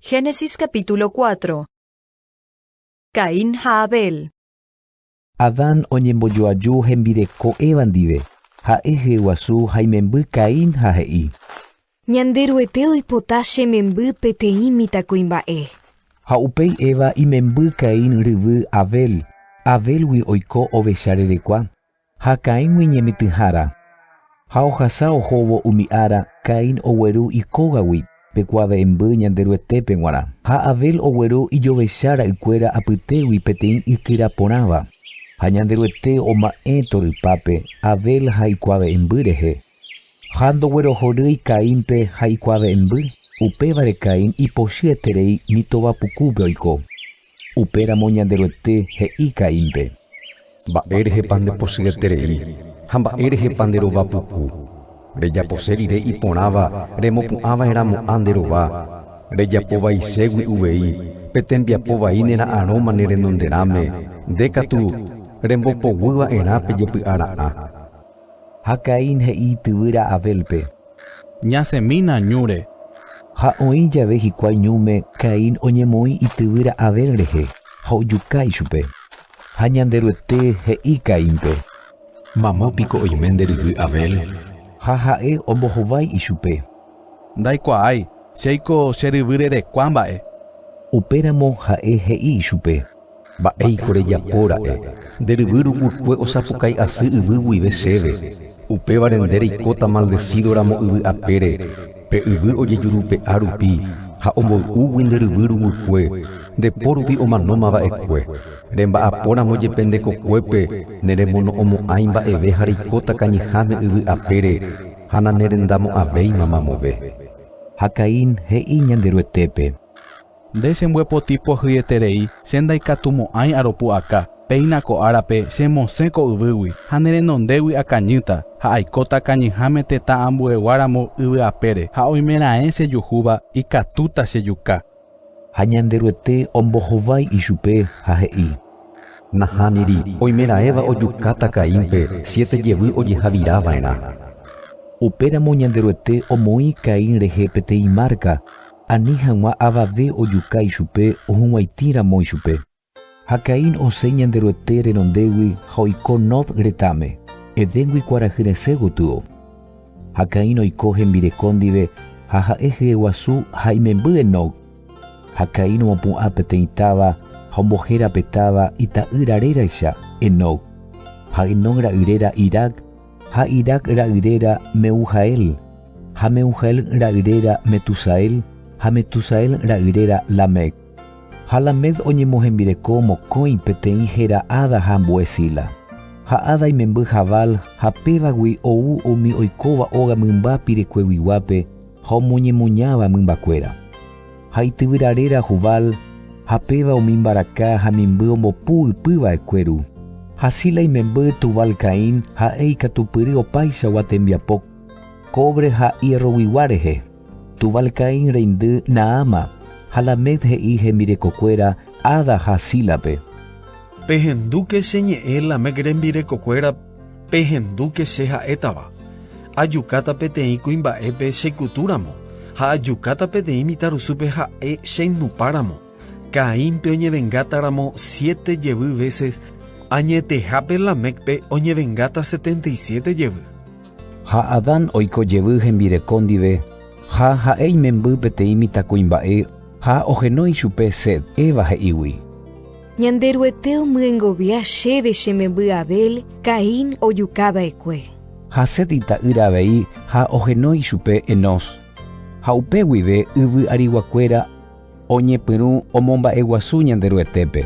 Génesis capítulo 4 Caín ha Abel Adán oñembojoaju hembireko Eva ndive, ha'e hyeguasu ha imemby Caín ha he'i. Ñanderuete oipota che memby peteĩ mitãkuimba'e. Ha upéi Eva imemby Caín ryvy Abel, Abélgui oiko ovecha rerekua, Ha Caín iñemitỹhára. Ha ohasa ohóvo umi ára, Caín ogueru ikógagui pe kuave'ẽmby Ñanderuetépe g̃uarã, ha Abel ogueru ijovecha ra'ykuéra apytégui peteĩ ykyra porãva. Ha Ñanderuete oma'ẽ torypápe Abel ha ikuave'ẽmby rehe, ha ndoguerohorýi Caínpe ha ikuave'ẽmby, upévare Caín ipochyeterei mitõva pukúpe oiko. Upéramo Ñanderuete he'i Caínpe. Mba'érehepa ndepochyeterei ha mba'érehepa nderova puku? Rejapose rire iporãva remopu'ã va'erã mo'ã nde rova, rejapo vaiségui uvei pe tembiapo vai nera'arõma ne renonderãme, nde katu rembopoguy va'erã pe jepy'a ra'ã. Ha Caín he'i ityvýra Abélpe. Ñasẽmína ñúre. Ha oĩ jave hikuái ñúme, Caín oñemoĩ ityvýra Abel rehe ha ojuka ichupe. Ha Ñanderuete he'i Caínpe. Mama piko oime nde ryvy Abel? Ha ha'e ombohovái ichupe. Ndaikuaái, chéiko che ryvy rerekua mba'e. Upéramo ha'e he'i ichupe. Mba'éiko rejapo ra'e, nde ryvy ruguykue osapukái asy yvy guive chéve, upévare nde reikóta maldesído ramo yvy apére, pe yvy ojejurupe'a rupi ha omboy'úgui nde ryvy ruguykue, nde po rupi omanóma va'ekue. Remba'apo ramo jepe nde kokuépe ne remono'õmo'ãi mba'eve ha reikóta kañyháme yvy apére ha nanerendamo'ãvéima mamove. Ha Caín he'i Ñanderuetépe. Nde che mbyepoti pohyieterei, che ndaikatumo'ãi aropu'aka. Péina ko árape che mosẽ ko yvýgui, ha ne renondégui akañýta, ha aikóta kañyháme tetã ambuegua ramo yvy apére, ha oime raẽ che juhúva, ikatúta che juka. Ha Ñanderuete ombohovái ichupe ha he'i, Nahániri, oime raẽva ojukáta Caínpe siete jevy ojeha'vira va'erã. Upéramo Ñanderuete omoĩ Caín rehe peteĩ márka. Ani hag̃ua avave ojuka ichupe ohug̃uaitĩ ramo ichupe. Ha Caín osẽ Ñanderuete renondégui ha oiko Nod retãme, Edéngui kuarahy resẽ gotyo. Ha Caín oiko hembireko ndive ha ha'e hyeguasu ha imemby Enod. Ha Caín omopu'ã peteĩ táva ha ombohéra pe táva ita'ýra réracha, Enod. Ha Enod ra'y réra Irad. ha Irad ra'yréra Mehujael, ha Mehujael ra'yréra Metusael, ha Metusael ra'yréra Lamec. Ha Lamec oñemohembireko mokõi peteĩ héra Ada ha ambue Zila. Ha Ada imemby Jabal, ha pévagui ou umi oikóva óga mymba pirekueguiguápe ha omoñemoñáva mymbakuéra. ha ityvyra réra Jubal, ha péva umi mbaraka ha mimby ombopu ypy va'ekue ru. Ha Zila imemby Tubal-Caín ha'e ikatupyry opaichagua tembiapo kóvre ha hierroguigua rehe. Tubal-Caín reindy Naama, ha Lamec he'i hembirekokuéra Ada ha Zílape. Pehendúke che ñe'ẽ Lamec rembirekokuérape. Pehendúke che ha'étava, Ajukáta peteĩ kuimba'épe che kutu ramo, ha ajukáta peteĩ mitarusúpe ha'e che nupa ramo. Caínpe oñevengáta ramo siete jevy véses, añetehápe Lamécpe oñevengáta setenta y siete jevy. Ha Adán oiko jevy hembireko ndive, ha ha'e imemby peteĩ mitakuimba'e ha ohenói chupe Set, Eva he'ígui. Ñanderuete omyengovia chéve che memby Abel, Caín ojuka va'ekue. Ha Set ita'ýra avei ha oheno ichupe Enós. Ha upe guive yvy ariguakuéra oñepyrũ omomba'eguasu Ñanderuetépe.